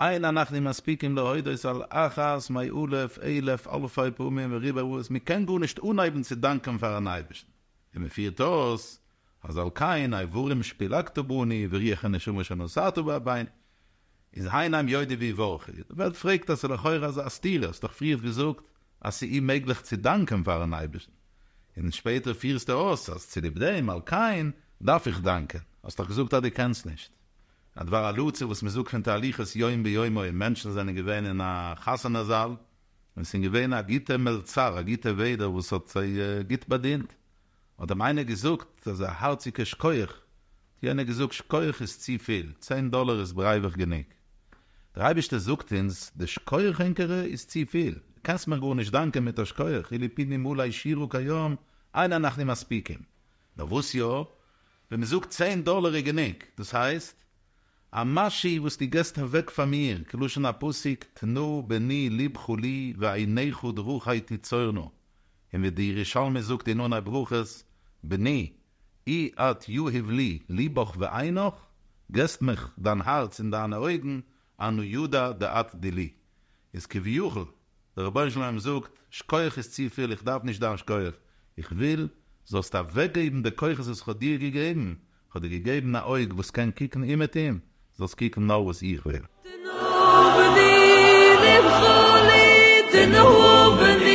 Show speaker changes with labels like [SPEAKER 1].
[SPEAKER 1] אין אנחנו מספיקים להודות על אחת מאה אלף אלף אלפי פעמים וריבע ראות, מען קען גארנישט אנהייבן צו דאנקען פאר'ן אייבערשטן, ווי מען פירט אויס, אז על כן האיברים שפילגתו בני ורוח הנשמה שנשאתו באבינו איז הן עם יודי ווי ווארכי, די וועלט פרעגט אז ס'לכאורה אזא סתירה, האסט דאך פריערט געזאגט אז ס'אימעגליך צו דאנקען פאר'ן אייבערשטן, און שפעטער פירסטו אויס אז צוליב דעם על כן דארף איך דאנקען, האסט דאך געזאגט אז דו קענסט נישט, א דבר הלצה וואס מען זאגט פון תהליכות יום ביומו און מענטשן זענען געווען אין א חתונה זאל און ס'אין געווען א גוטע מלצר א גוטע וועדער וואס האט זיי גוט באדינט האט אים איינער געזאגט אזא הארציגע שקויעך האט יענער געזאגט שקויעך איז צופיל צען דאלער איז ברייבעך גענוג דער אייבישטער זאגט אונז די שקויעך ענקערע איז צופיל די קענסט מיך גארנישט דאנקען מיט א שקויעך אילו פינים אולי שירו כיום אין אנחנו מספיקים נאר וואס יא ווען מען זאגט צען דאלער איז גענוג, דאס הייסט, א משי וואס דו געסט אוועק פאר מיר, כלשון הפסוק תנו בני לבכו לי ועיניך דרוכי תצורנה, און ווי די ירושלמי זאגט אין עוני ברכות, בני, אי את יהיב לי לבך ועינך, געסט מיך דיין הארץ און דיינע אויגן, אנו יודא דאתא די לי, איז כביכול, דער רבונו של עולם זאגט, שכוח איז צופיל, איך דארף נישט דיין שכוח, איך וויל זאלסט אוועקגעבן די כוחות וואס איך האב דיר געגעבן, איך האב דיר געגעבן א אויג וואס קען קוקן אומעטום, זאלסט קוקן נאר וואס איך וויל. תנהג בי דבחלי תנהג בי